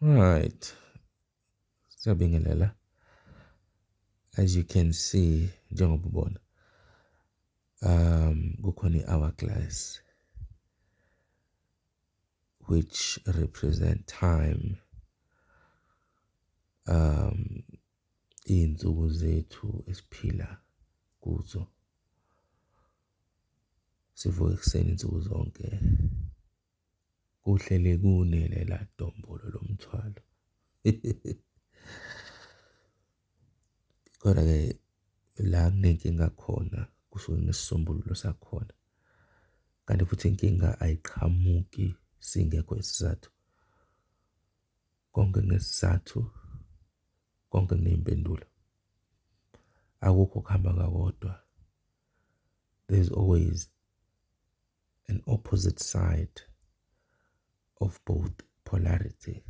Right. Siyabingelela. As you can see njengoba ubona um kukhona i-hourglass which represent time um iy'nsuku zethu esiphila kuzo sivuka ekuseni nsuku zonke Kuhle le kune lela dombolo lomthwalo. Kodwa-ke la kunenkinga khona kusuke kunesisombululo sakhona. Kanti futhi inkinga ayiqhamuki singekho isizathu. Konke kunesizathu, konke kuney'mpendulo. Akukho okuhamba kakodwa, there's always. an opposite side of both polarity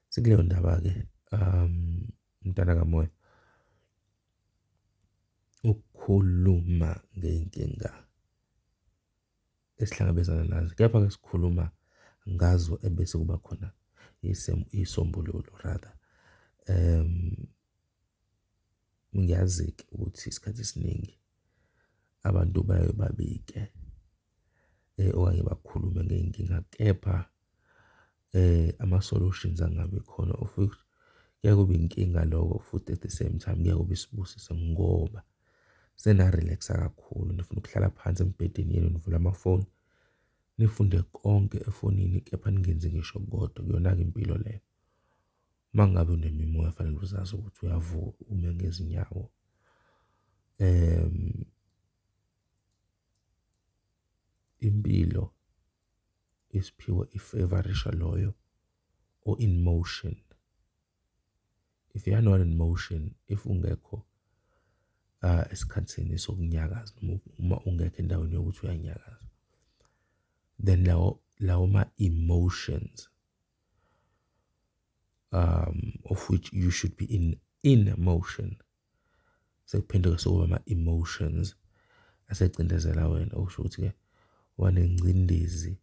sikuleyo ndaba-ke um mntana kamoya ukukhuluma ngey'nkinga esihlangabezana nazo kepha-ke sikhuluma ngazo ebese kuba khona isombululo rather um Ngiyazi-ke ukuthi isikhathi esiningi abantu baye babike okanye bakhulume ngey'nkinga kepha ama-solutions angabi khona of which kuyaye kube inkinga loko futhi at the same time kuyaye kube isibusiso ngoba sena-relax-a kakhulu nifuna ukuhlala phansi embhedeni yenu nivule amafoni nifunde konke efonini kepha ningenzi ngisho okukodwa, iyona-ke impilo leyo. Uma ngabe unemimoya fanele uzazi ukuthi uyavuka ume ngezinyawo. Impilo isiphiwo ifevarisha loyo o-in motion. If you are not in motion, if ungekho esikhathini sokunyakaza noma uma ungekho endaweni yokuthi uyanyakaza, then lawo lawo ma-emotions um of which you should be in in emotion sekuphenduka sokuba ama-emotions asecindezela wena okusho ukuthi-ke wanengcindezi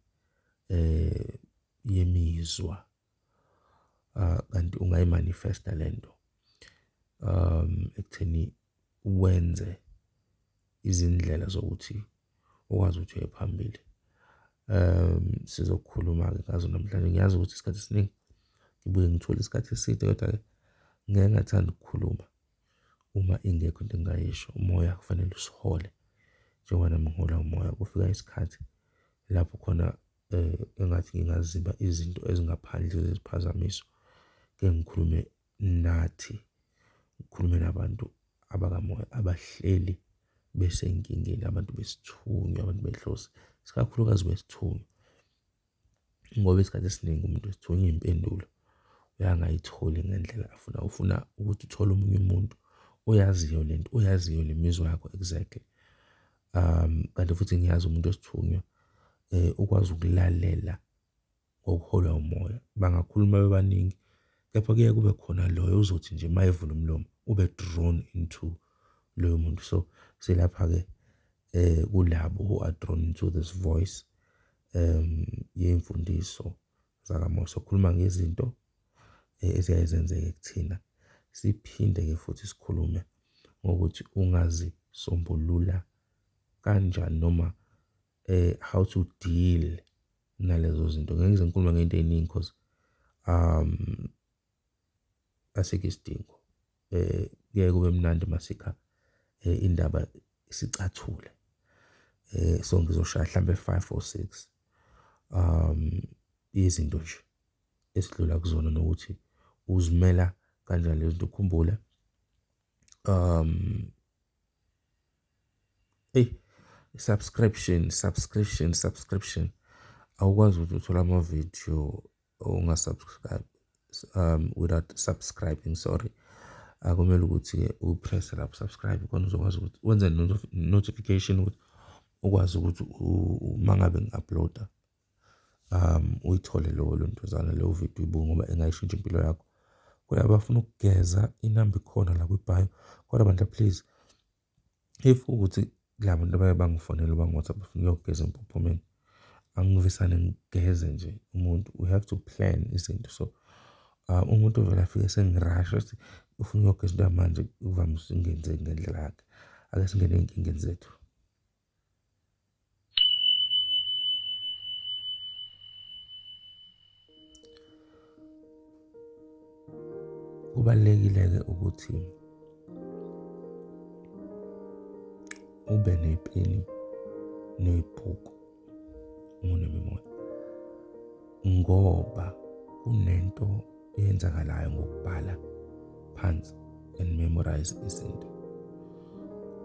eh yemizwa ah, kanti ungayimanifesta lento um ekutheni uwenze izindlela zokuthi ukwazi ukuthi uye phambili. Sizokhuluma-ke ngazo namhlanje, ngiyazi ukuthi isikhathi esiningi ngibuye ngithole isikhathi eside kodwa-ke ngeke ngathanda ukukhuluma uma ingekho into engingayisho. Umoya kufanele usihole njengoba nami ngiholwa umoya, kufika isikhathi lapho khona engathi ngingaziba izinto ezingaphandle zeziphazamiso, ngeke ngikhulume nathi ngikhulume nabantu abakamoya abahleli besenkingeni, abantu besithunywa, abantu benhloso, isikakhulukazi besithunywa ngoba isikhathi esiningi umuntu wesithunywa iy'mpendulo uyangayitholi ngendlela afuna, ufuna ukuthi uthole omunye umuntu oyaziyo le nto, oyaziyo le mizwa yakho exactly. Kanti futhi ngiyazi umuntu wesithunywa ukwazi ukulalela ngokuholwa umoya bangakhuluma bebaningi kepha kuye kube khona loyo uzothi nje uma evula umlomo ube drawn into loyo muntu so silapha-ke eh kulabo who are drawn into this voice um yemfundiso zakamoya sokhuluma ngezinto eh, eziyaye zenzeke kuthina siphinde-ke futhi sikhulume ngokuthi ungazisombulula kanjani noma eh how to deal nalezo zinto ngeke ngize ngikhuluma ngento eningi because um asikho isidingo eh kuye kube mnandi masikha eh, indaba isicathule eh so ngizoshaya mhlambe 5 or 6 um izinto nje esidlula kuzona nokuthi uzimela kanjani lezinto ukhumbule um Eyi i-subscription, subscription, subscription awukwazi ukuthi uthole amavidiyo unga-subscribe without subscribing sorry akumele ukuthi-ke upresse lapho subscribe khona uzokwazi ukuthi wenze notification ukuthi ukwazi ukuthi uma ngabe ngi-upload-a. Uyithole lowo lontuzana leyo vidiyo uyibuke ngoba ingayishintsha impilo yakho. Kodwa abafuna ukugeza inamba ikhona la kwibhayo. Kodwa bandla please if kuwukuthi la bantu abaye bangifonele bangi-WhatsApp bafuna ukuyogeza empophomeni, angivesane ngigeze nje umuntu we have to plan izinto. So, umuntu ovele afike esengirasha ethi ufuna ukuyogeza into yamanje kuvamise ukungenzeki ngendlela yakhe. Ake singene ezinkingeni zethu. kubalulekile-ke ukuthi ube nepeni nebhuku unemimoya ngoba kunento eyenzakalayo ngokubhala phansi and memorize izinto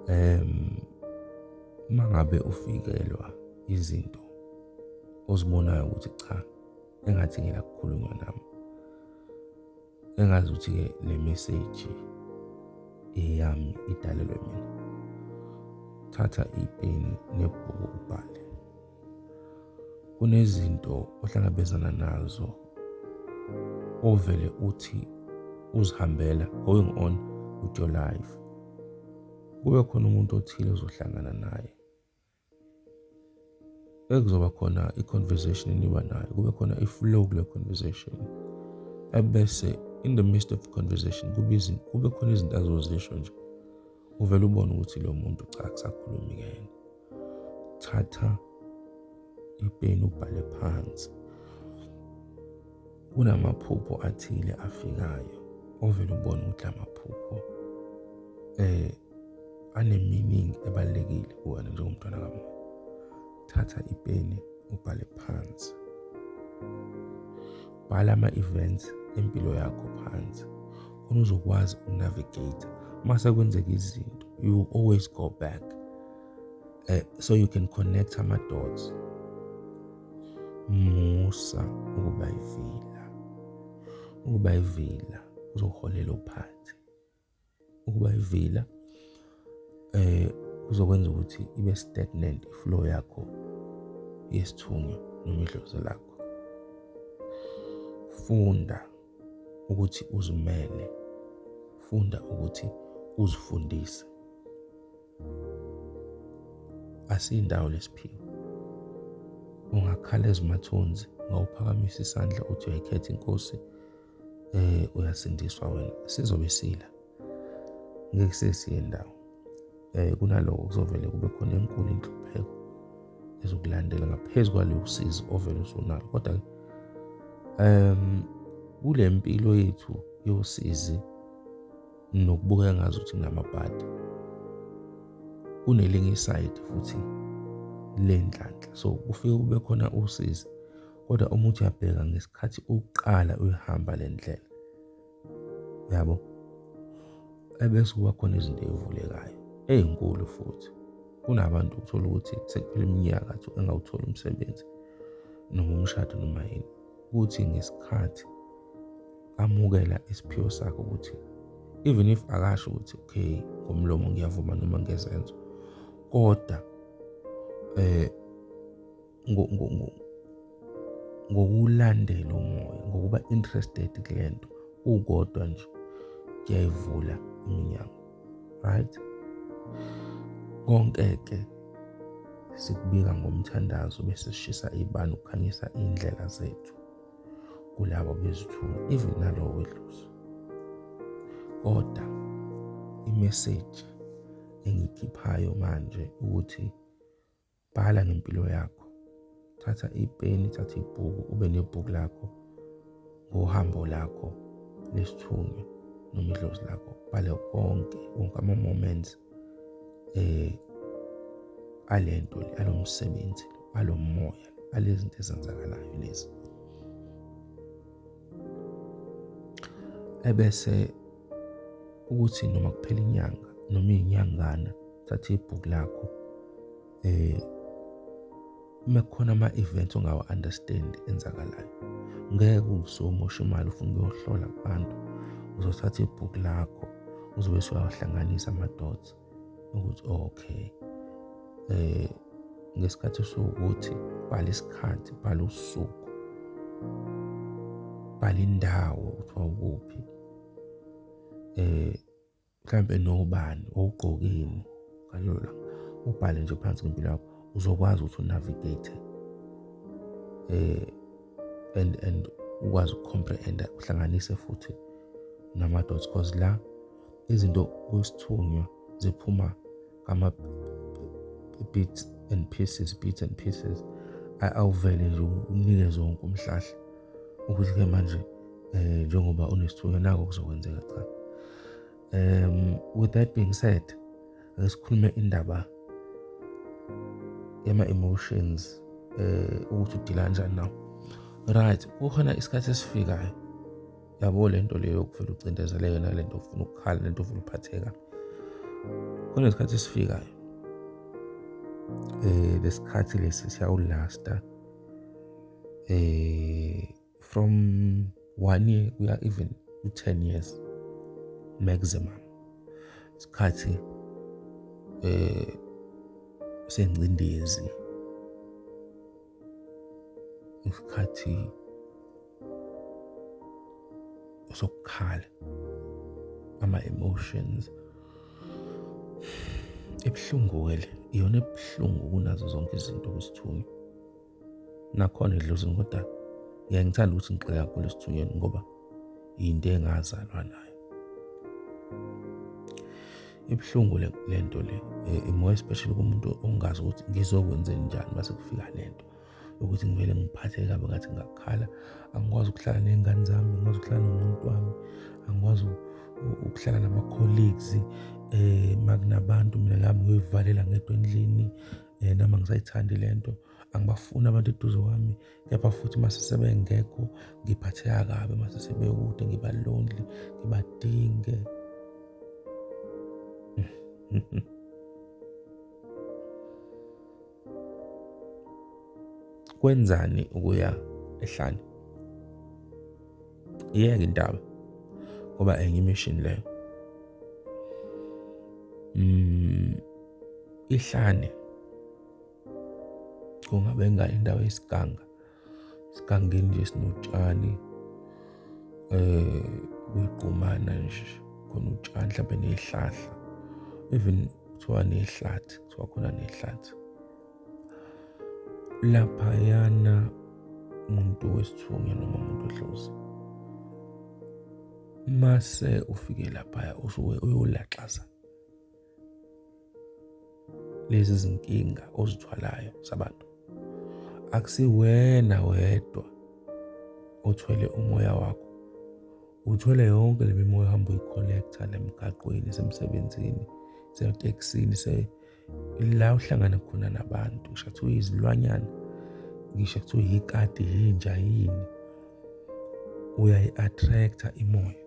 um uma ngabe ufikelwa izinto ozibonayo ukuthi cha engathi ngila kukhulunywa nami engazi ukuthi-ke le meseji eyami idalelwe mina thatha ipeni nebhuku ubhale kunezinto ohlangabezana nazo ovele uthi uzihambela going on with your life kube khona umuntu othile ozohlangana naye ekuzoba khona i-conversation eniba nayo kube khona i-flow kule conversation ebese in the midst of conversation kube khona izinto azozisho nje uvele ubone ukuthi lo muntu cha kusakhulumi kuyena thatha ipeni ubhale phansi kunamaphupho athile afikayo ovele ubone ukuthi amaphupho eh anemeaning ebalekile kuwena njengomntwana kamoya thatha ipeni ubhale phansi bhala ama-events empilo yakho phansi khona uzokwazi ukunavigate uma sekwenzeka izinto you always go back uh, so you can connect ama-dots musa ukuba ivila ukuba ivila uzoholela uphansi ukuba ivila eh uzokwenza ukuthi ibe stagnant iflow yakho yesithunywa noma idlozi lakho funda ukuthi uzimele funda ukuthi uzifundise asiyindawo lesiphiwo ungakhala ezimathunzi ngawuphakamisa isandla uthi uyayikhetha inkosi eh uyasindiswa wena sizobe sila ngeke sesiye ndawo eh kunaloko kuzovele kube khona enkulu inhlupheko ezokulandela ngaphezu kwaleyo usizi ovele usunalo kodwa um kule mpilo yethu yosizi nokubukeka ngazi ukuthi nginamabhadi kunelinye isayidi futhi lenhlanhla so kufike kube khona usizi kodwa uma uthi uyabheka ngesikhathi uqala uyihamba le ndlela yabo ebese kuba khona izinto ey'vulekayo ey'nkulu futhi kunabantu uthola ukuthi sekuphela iminyaka athi engawutholi umsebenzi noma umshado noma yini ukuthi ngesikhathi amukela isiphiwo sakhe ukuthi even if akasho ukuthi okay ngomlomo ngiyavuma noma ngezenzo kodwa eh ngokulandela umoya ngokuba interested kule nto ukodwa nje kuyayivula iminyango right konke ke sikubika ngomthandazo bese sishisa ibani ukukhanyisa indlela zethu kulabo bezithunywa even nalowo wedluzo kodwa imeseji engikhiphayo manje ukuthi bhala ngempilo yakho thatha ipeni thatha ibhuku ube nebhuku lakho ngohambo lakho lesithunywa noma idlozi lakho bale konke wonke ama-moments eh alento le alomsebenzi alomoya alezinto ezenzakalayo lezi ebese ukuthi noma kuphela inyanga noma iyinyangana thatha ibhuku lakho eh mekukhona ama events ongawa understand enzakalayo ngeke usomosha imali ufuna ukuyohlola abantu uzothatha ibhuku lakho uzobe usuyawahlanganisa ama dots ukuthi okay eh ngesikhathi usukuthi bhala isikhathi bhala usuku bhala indawo ukuthi wawukuphi eh mhlambe nobani owugqokini kalula ubhale nje phansi ngempilo yakho uzokwazi ukuthi unavigate eh and and ukwazi ukucomprehenda uhlanganise futhi nama dots cause la izinto osithunywa ziphuma ngama bits and pieces bits and pieces awuvele nje unike zonke umhlahla ukuthi ke manje eh njengoba unesithunywa nako kuzokwenzeka cha um with that being said ake sikhulume indaba yama emotions eh ukuthi udila kanjani nawo right kukhona isikhathi esifikayo yabo le nto leyo yokuvele ucindezele yona le nto ufuna ukukhala le nto ufuna ukuphatheka kunesikhathi esifikayo eh lesikhathi lesi siyawulasta eh from 1 year kuya even to 10 years maximum isikhathi eh sengcindezi isikhathi sokukhala ama-emotions ebuhlungu-ke le iyona ebuhlungu kunazo zonke izinto kwisithunywa nakhona edlozini kodwa ngiyangithanda ukuthi ngigxile kakhulu esithunyweni ngoba yinto engazalwa nayo ibuhlungu le nto le eh, more especially kumuntu ongazi ukuthi ngizokwenze njani uma sekufika le nto yokuthi ngivele ngiphathe kabi ngathi ngakhala angikwazi ukuhlala ney'ngane zami angikwazi ukuhlala nomuntu wami angikwazi ukuhlala nama-colleagues um eh, makunabantu mina ngami ngiyoyivalela ngedwa endlini um eh, noma ngisayithandi le nto angibafuni abantu eduze kwami kepha futhi uma sesebengekho ngiphatheka kabi uma sesebekude ngiba lonely ngibadinge kwenzani ukuya ehlane iyeke indaba ngoba enye imission leyo mm ihlane kungabe ngani indawo yesiganga sigangeni nje sinotshani eh kuyigqumana nje khona utshani mhlawumbe nezihlahla even kuthiwa nehlathi kuthiwa khona nehlathi laphayana umuntu wesithunywa noma umuntu ohlozi mase ufike laphaya usuke uyolaxaza lezi zinkinga ozithwalayo zabantu akusiwena wedwa othwele umoya wakho uthwele yonke le mimoya uhamba uyicollecta la emgaqweni semsebenzini seteksini se la uhlangana khona nabantu ngisho kuthiwa izilwanyana ngisho kuthiwa yikati yinja yini uyayi-attract-a imoya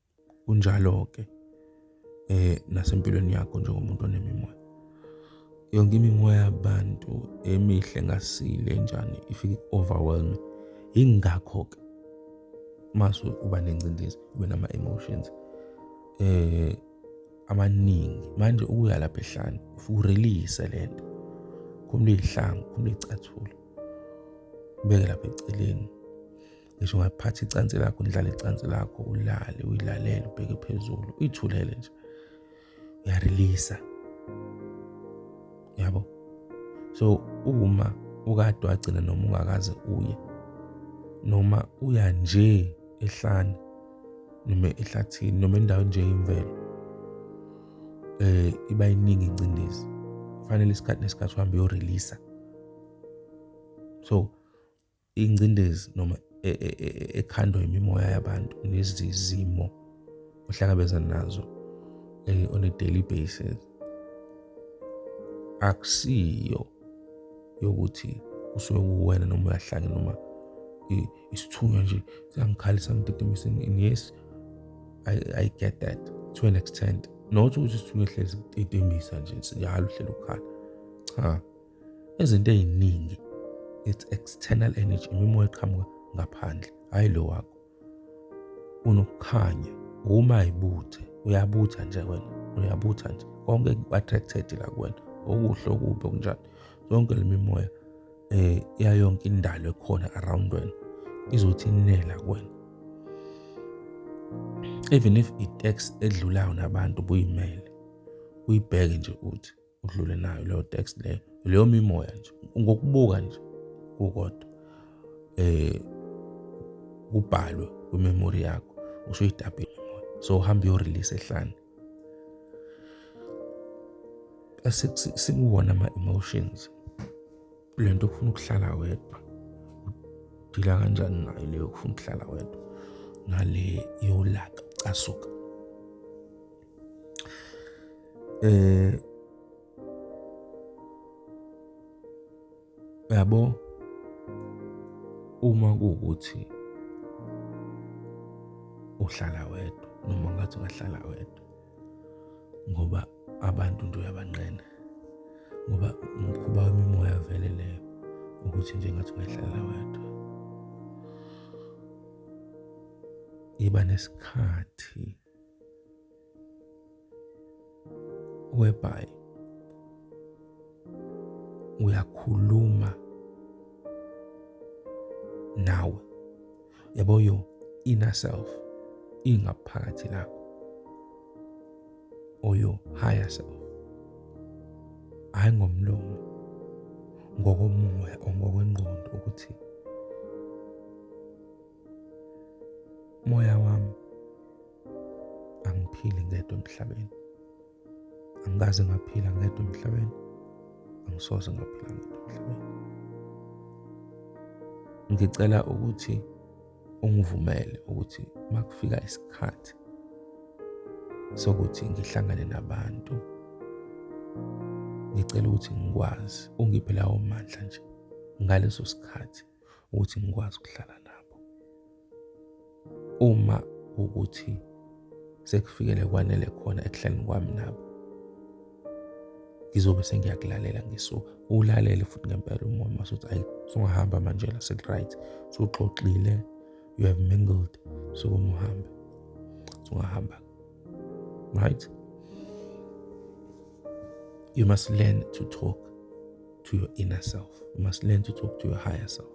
kunjalo-ke eh nasempilweni yakho njengomuntu onemimoya yonke imimoya yabantu emihle ngasile njani ifike overwhelm ingakho ke masu uba nengcindezi ube nama emotions eh amaningi manje ukuya lapha ehlane ufike urelease lento khumula izihlangu khumula icathula ubeke lapha eceleni ngisho ungaphatha icansi lakho udlale icansi lakho ulale uyilalele ubheke phezulu uyithulele nje uyareleasa yabo so uma ukade wagcina noma ungakaze uye noma uya nje ehlane noma ehlathini noma endaweni nje yemvelo eh iba iningi incindezi kufanele isikhathi nesikhathi uhambe uyoreleasa so ingcindezi noma e, e, e, ekhandwa imimoya yabantu nezizimo ohlangabezana nazo eh, on a daily basis akusiyo yokuthi usuke kuwena noma uyahlanya noma isithunywa nje siyangikhalisa ngidedemisa and yes I, I get that to an extent not ukuthi isithunywa ehlezi idedemisa nje njalo uhleli ukukhala cha Izinto eziningi it's external energy imimoya eqhamuka ngaphandle hayi lo wakho. Unokukhanya uma ibuthe uyabutha nje wena uyabutha nje konke ku-attracted la kuwena okuhle okubi okunjani yonke le mimoya eh yayonke indalo ekhona around wena izothi inela kuwena even if i-tax edlulayo nabantu buyimele uyibheke nje uthi udlule nayo leyo text leyo leyo mimoya nje ngokubuka nje kukodwa eh kubhalwe kwimemory yakho usuyitabile imoya so uhambe uyorelease ehlane sikuwona ama-emotions le nto kufuna ukuhlala wedwa udila kanjani nayo leyo kufuna ukuhlala wedwa nale yolaka ucasuka Eh yabo uma kuwukuthi uhlala wedwa noma ngathi ungahlala wedwa ngoba abantu nje uyabanqena ngoba umkhuba wemimoya vele leyo ukuthi nje ngathi ungahlala wedwa iba nesikhathi whereby uyakhuluma nawe yabo yo inner self ingaphakathi lakho or your higher self hayi ngomlomo ngokomoya or ngokwengqondo ukuthi Moya wami angiphili ngedwa emhlabeni. Angikaze ngaphila ngedwa emhlabeni. Angisoze ngaphila ngedwa emhlabeni. Ngicela ukuthi ungivumele ukuthi makufika isikhathi sokuthi ngihlangane nabantu ngicela ukuthi ngikwazi ungiphe lawo mandla nje ngaleso sikhathi ukuthi ngikwazi ukuhlala nabo uma ukuthi sekufikele kwanele khona ekuhlaleni kwami nabo ngizobe sengiyakulalela ngisuka ulalele futhi ngempela umoya mase uthi ayi sungahamba manje la seku-right suxoxile you have mingled sukuma uhambe sungahamba right you must learn to talk to your inner self you must learn to talk to your higher self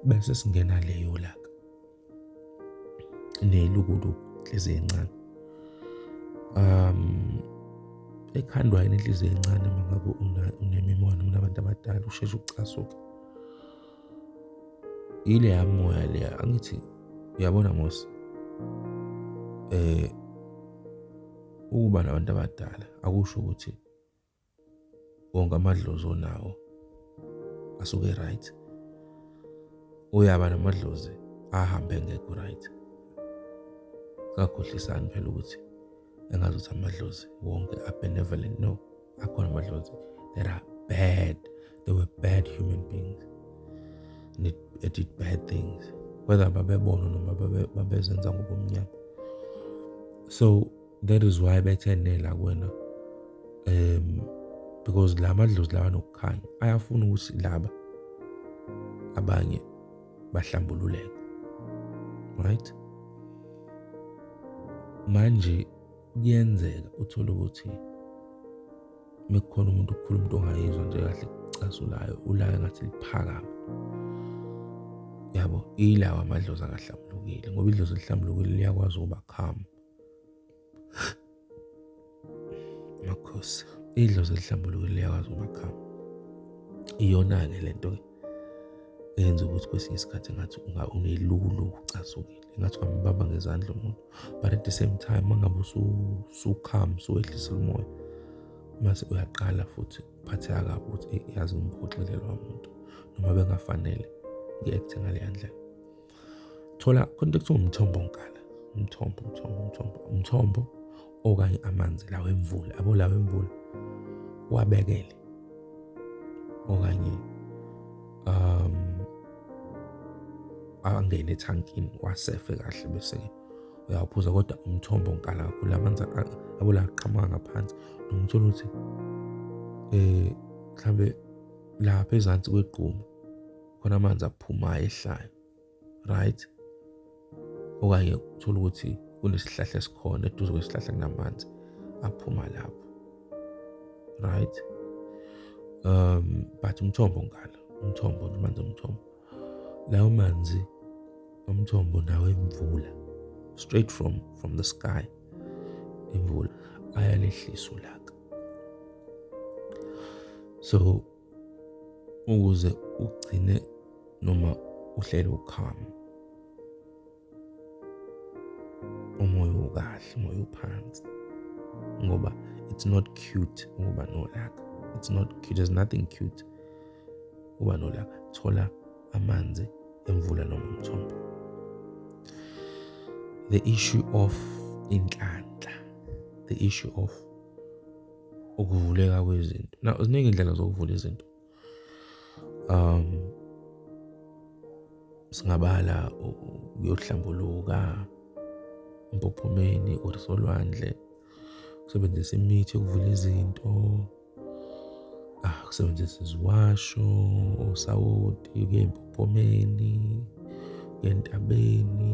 bese singena leyo laka nelukuluku inhliziyo encane um ekhandwa yini inhliziyo encane uma ngabe unemimono unabantu abadala usheshe ucasuke ile yamoya leya angithi uyabona mose eh ukuba nabantu abadala akusho ukuthi wonke amadlozi onawo asuke right uyaba namadlozi ahambe ngekho right kakhohlisani phela ukuthi engazi ukuthi amadlozi wonke abenevolent no akhona amadlozi that are bad they were bad human beings and it, it did bad things whether babebona noma babezenza ngobumnyama so that is why bethe nela kwena um because la madlozi lawa nokukhanya ayafuna ukuthi laba abanye bahlambululeke right manje kuyenzeka uthole ukuthi mekukhona umuntu ukukhuluma into ongayizwa nje kahle kucasulayo ulaya ngathi liphakama yabo ilawa amadlozi akahlambulukile ngoba idlozi elihlambulukile liyakwazi ukuba calm Makhosi, idlozi elihlambuluko liyakwazi umakhama. Iyona-ke le nto eyenza ukuthi kwesinye isikhathi ngathi unelulu ucasukile ngathi kwambamba ngezandla umuntu but at the same time mangabe usukhama usuwehlisa umoya mase uyaqala futhi uphatheka kabi ukuthi yazi ngimhoxile lowa muntu noma bengafanele ngi-akthe ngaleya ndlela thola khona into ekuthiwa umthombo ngala umthombo umthombo umthombo umthombo okanye amanzi lawo emvula abo lawo emvula wabekele okanye um angene ethankini wasefe kahle bese ke uyawuphuza kodwa umthombo ngikala kakhulu amanzi abula aqhamuka ngaphansi nomthola ukuthi eh mhlambe lapha ezansi kwegquma khona amanzi aphumayo ehlayo right okanye uthola ukuthi kunesihlahla esikhona eduze kwesihlahla kunamanzi aphuma lapho right um but umthombo ngala umthombo amanzi omthombo lawo manzi omthombo nawo emvula straight from from the sky imvula ayalehlisa ulaka so ukuze ugcine noma uhlele ukhama umoya ukahle umoya uphansi ngoba it's not cute ukuba nolaka it's not cute there's nothing cute uba nolaka thola amanzi emvula noma umthombo the issue of inhlanhla the issue of ukuvuleka kwezinto na ziningi indlela zokuvula izinto um singabala uyohlambuluka empophomeni or solwandle ukusebenzisa imithi yokuvula izinto ah ukusebenzisa iziwasho osawoti kuye empophomeni kuye entabeni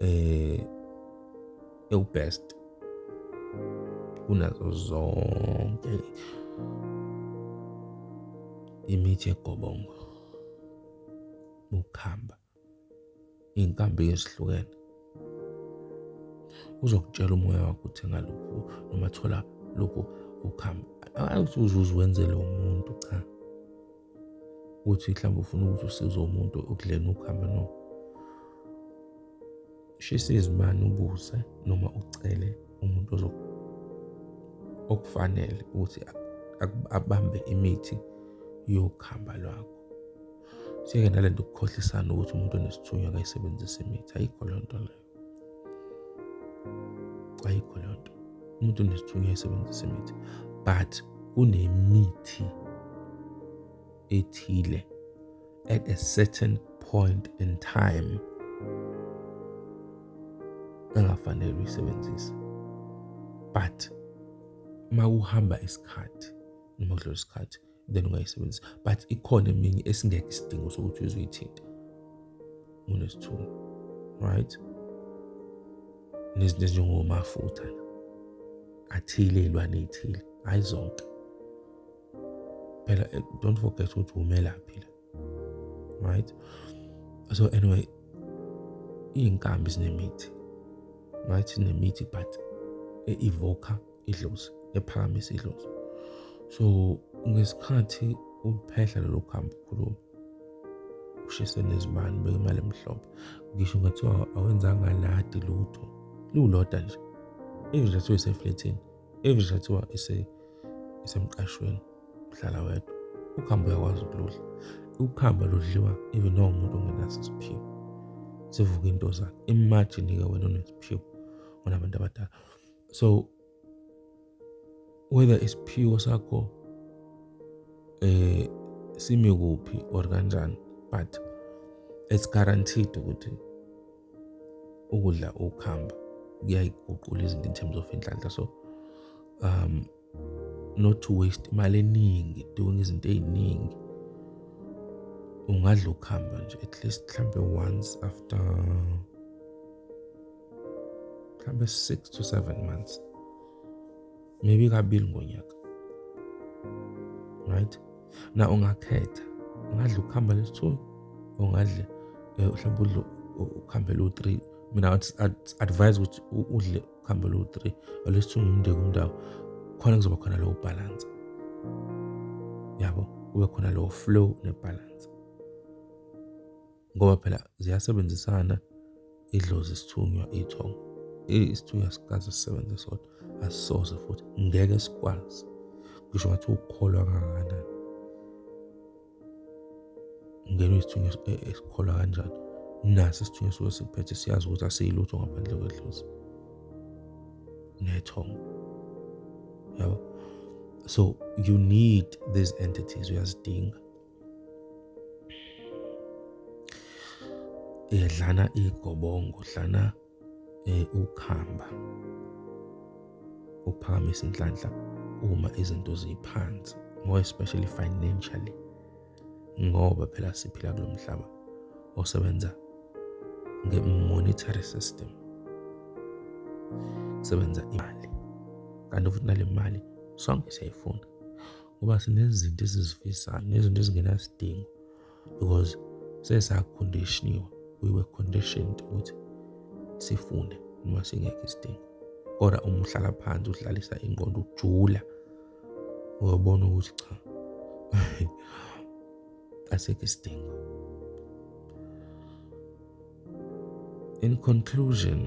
eh ewubest kunazo zonke imithi egobongo ukuhamba iy'nkambi ezihlukene uzokutshela umoya wakho ukuthi ngalokhu noma thola lokhu ukuhamba awuthi uzuze wenzele umuntu cha ukuthi mhlawumbe ufuna ukuthi usize umuntu ukudleni ukuhamba no shisa izimani ubuze noma ucele umuntu okufanele ukuthi abambe imithi yokuhamba lwakho siyeke nalento ukukhohlisana ukuthi umuntu onesithunywa akayisebenzise imithi ayikho loo nto leyo ayikho leyo nto umuntu unesithunywa esebenzisa imithi but kunemithi ethile at a certain point in time engafanele uyisebenzise but uma uhamba isikhathi noma kudlula isikhathi then ungayisebenzisa but ikhona eminye esingekho isidingo sokuthi uzoyithinta unesithunywa right nezinto ezinjengomafutha athile iy'lwane ey'thile hhayi zonke phela eh, don't forget ukuthi wumelaphi la right so anyway iy'nkambi zinemithi right zinemithi but e-evoka idlozi ephakamisa idlozi so ngesikhathi uphehla lelo khambi ukhuluma ushise nezibani beke imali emhlophe ngisho ungathiwa awenzanga ladi lutho liwuloda nje even nje athiwe iseflethini even nje kuthiwa isemqashweni uhlala wedwa ukhamba uyakwazi ukuludla ukuhamba ludliwa even noma umuntu ongenaso isiphiwo sivuka into zakhe imagine-ke wena onesiphiwo onabantu abadala so whether isiphiwo sakho eh simi kuphi or kanjani but it's guaranteed ukuthi ukudla ukuhamba kuyayiguqula izinto in terms of inhlanhla so um not to waste imali eningi doing izinto eziningi ungadla ukuhamba nje at least mhlambe once after mhlambe 6 to 7 months maybe kabili ngonyaka right na ungakhetha ungadla ukuhamba lesi-two ungadle um eh, mhlawumbe udle ukuhambe lu-three mina advise ukuthi udle ukuhambe lu-three olesi-two ngimndeki umndawo khona kuzoba khona lowo bhalansi yabo kube khona lowo flow nebhalansi ngoba phela ziyasebenzisana idlozi isithunywa ithongo isithunywa sikaze sisebenze sodwa asisoze futhi ngeke sikwazi ngisho ngathi ukukholwa kangakanani ngenwe isithunywa e-, esikholwa kanjani naso isithunywa suke siphethe siyazi ukuthi asiyilutho ngaphandle kwedlozi nethongo yabo so you need these entities uyazidinga eh dlana igobongo dlana eh ukhamba uphakamisa inhlanhla uma izinto ziphansi more especially financially ngoba phela siphila kulomhlaba osebenza nge-monetary system sebenza imali kanti futhi nale mali sonke siyayifuna ngoba sinezinto esizifisayo nezinto ezingenasidingo because sesakondishiniwe we were conditioned ukuthi sifune noma singekho isidingo kodwa uma uhlala phansi udlalisa ingqondo ujula uyobona ukuthi cha asikho isidingo in conclusion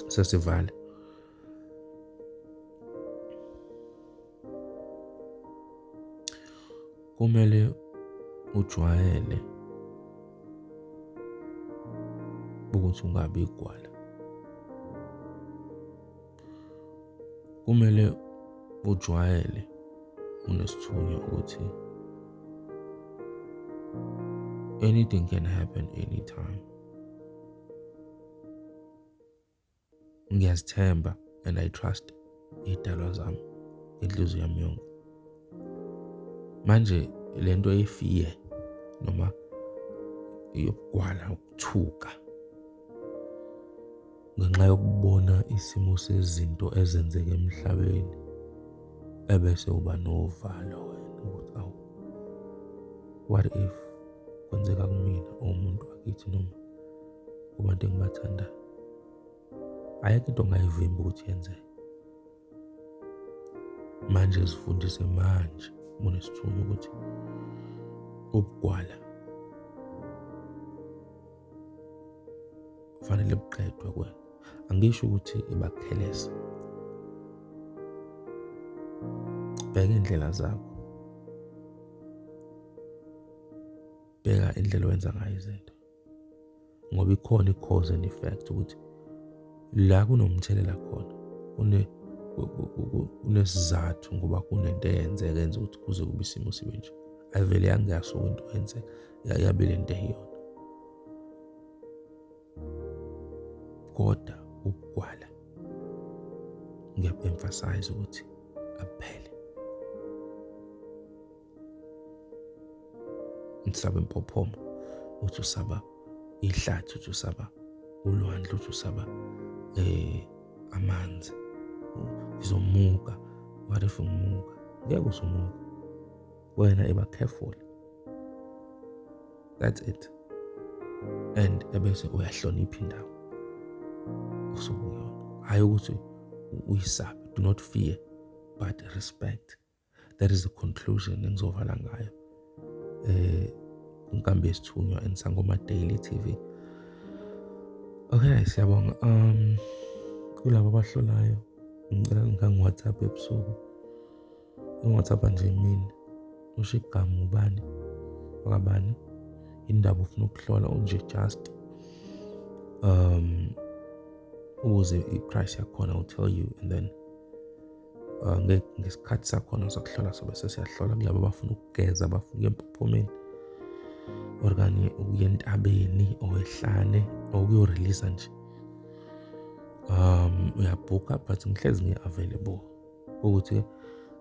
sesivala Kumele ujwayele ukuthi ungabi igwala. Kumele ujwayele unesithunywa ukuthi anything can happen anytime. ngiyazithemba and i trust idalwa zami inhliziyo yami yonke manje lento efiye noma yokugwala ukuthuka ngenxa yokubona isimo sezinto ezenzeka emhlabeni ebese uba novalo wena ukuthi awu what if kwenzeka kumina umuntu wakithi noma kubantu engibathandayo ayikho into ongayivimba ukuthi yenzeke manje zifundise manje munesithunywa ukuthi ubugwala kufanele buqedwe kwena angisho ukuthi ibakupheleza bheka indlela zakho bheka indlela owenza ngayo izinto ngoba ikhona i-cause and effect ukuthi la kunomthelela khona kune kunesizathu ngoba kunento eyenzeka enza ukuthi kuze kube isimo sibe nje ayivele yangasuka into yenzeka yabe le nto eyiyona kodwa ukugwala ngiyaku-emphasize ukuthi aphele Usabe impophomo, uthi usaba ihlathi, uthi usaba ulwandle, uthi usaba eh amanzi. Ngizomuka, what if ngimuka? Ngeke usumuka. Wena eba careful. That's it. And ebese uyahlonipha indawo usukuyona. Hayi ukuthi uyisabe. Do not fear but respect. that is the conclusion engizovala ngayo eh inkambi yesithunywa enisangoma daily tv okay siyabonga um kulabo abahlolayo ngicela ngangiwhatsapp ebusuku ungiwhatsapp nje imini usho igama ubani wakabani indaba ufuna ukuhlola unje just um ukuze i-price yakhona will tell you and then uh, ngesikhathi sakhona sokuhlola sobe sesiyahlola kulabo abafuna ukugeza abafuna ukuya empophomeni or kanye ukuya entabeni owehlane or ukuyorelisa nje um uyabhukha but ngihlezi ngi-available ukuthi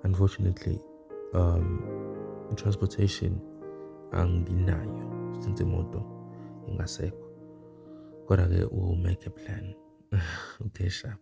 unfortunately um transportation anginayo since imoto ingasekho kodwa-ke u-make a plan okay sharp